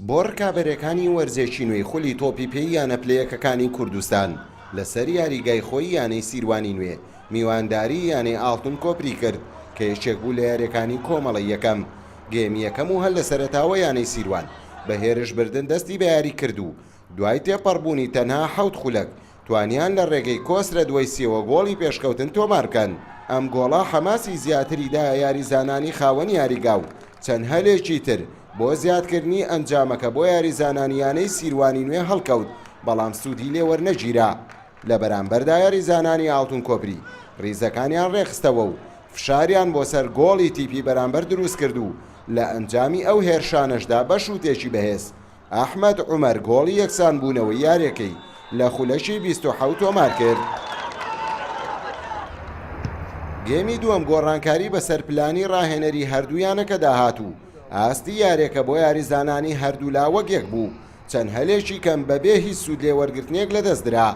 بۆ رکابەرەکانی وەرزێکی نوێی خولی تۆپی پێی یانە پلەیەکەکانی کوردستان لەسەر یاریگای خۆی یانەی سیروانی نوێ میوانداری یانەی ئاڵتون کۆپری کرد کە یەکێک بوو لە یاریەکانی کۆمەڵە یەکەم گێمی یەکەم و هەر لە سەرەتاوە یانەی سیروان بە هێرش بردن دەستی بە یاری کرد و دوای تێپەڕبوونی تەنها حەوت خولەک توانیان لە رێگەی کۆس لە دوای سێوە گۆڵی پێشکەوتن تۆمار بکەن، ئەم گۆڵە حەماسی زیاتری دایە یاریزانانی خاوەن یاریگا و چەند هەلێکی تر بۆ زیادکردنی ئەنجامەکە بۆ یاریزانانی یانەی سیروانی نوێ هەڵکەوت بەڵام سوودی لێ وەرنەگیرا لە بەرامبەردا یاریزانانی ئاڵتون کۆپری ریزەکانیان رێکخستەوە و فشاریان بۆ سەر گۆڵی تیپی بەرامبەر دروستکرد و لە ئەنجامی ئەو هێرشانەشدا بە شوتێکی بەهێز ئەحمەد عومەر گۆڵی یەکسانبوونەوەی یارییەکەی لە خولەکی بیست و حەوت تۆمارکرد. گێمی دووەم گۆڕانکاری بەسەر پلانی راهێنەری هەردوو یانەکەدا هات و ئاستی یارییەکە بۆ یاریزانانی هەردوولا وەک یەک بوو، چەند هەلێکی کەم بەبێ هیچ سوودلێوەرگرتنێک لەدەستدرا.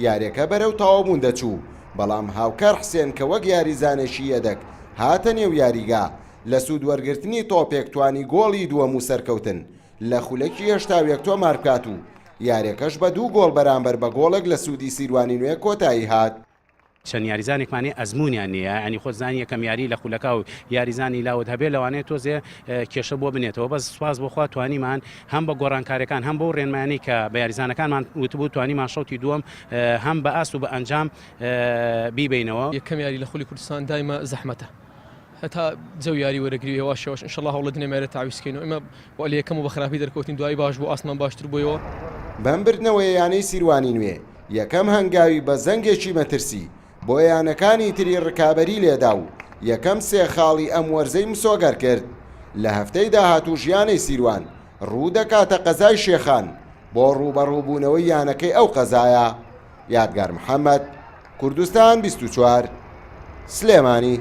یارییەکە بەرەو تەواوبوون دەچوو، بەڵام هاوکار حسێن کە وەک یاریزانێکی یەدەگ هاتە نێو یاریگا، لە سوودوەرگرتنی تۆپێک توانی گۆڵی دووەم و سەرکەوتن لە خولەکی هەشتا و یەک تۆمار بکات و یاریەکەش بە دوو گۆڵ بەرامبەر بە گۆڵێک لە سوودی سیروانی نوێ کۆتایی هات. چەند یاریزانێکمانەیە ئەزموونیان نیە یانی خۆت زانی یەکەم یاری لە خولەکا و یاریزانی لاوت هەبێ لەوانەیە تۆزێ کێشە بۆ بنێتەوە بەس سواز بۆخوا توانیمان هەم بە گۆڕانکارەکان هەم بۆ ڕێنمانی کە بە یاریزانەکانمان وتبوو توانیمان شەوتی دووەم هەم بە ئاست و بە ئەنجام بیبینەوە یەکەم یاری لە خولی کوردستان دایمە زەحمەتە هەتا جەو یاری وەرەگری هێواش هێواش انشاللە هەوڵەدنێ مەێرە تاویز کەین و ئێمە وە لە یەکەم و بە خراپی دەرکەوتین دوایی باش بوو ئاستمان باشتر بوویەوە. بەم بردنەوەیە یانەی سیروانی نوێ یەکەم هەنگاوی بە زەنگێکی مەترسی بۆ یانەکانی تری رکابەری لێدا و یەکەم سێ خاڵی ئەم وەرزەی مسۆگەر کرد، لە هەفتەی داهاتووش یانەی سیروان روودەکاتە قەزای شێخان بۆ رووبەڕووبوونەوەی یانەکەی ئەو قەزایە. یادگار محەمەد. کوردستان بیست و چوار، سلێمانی.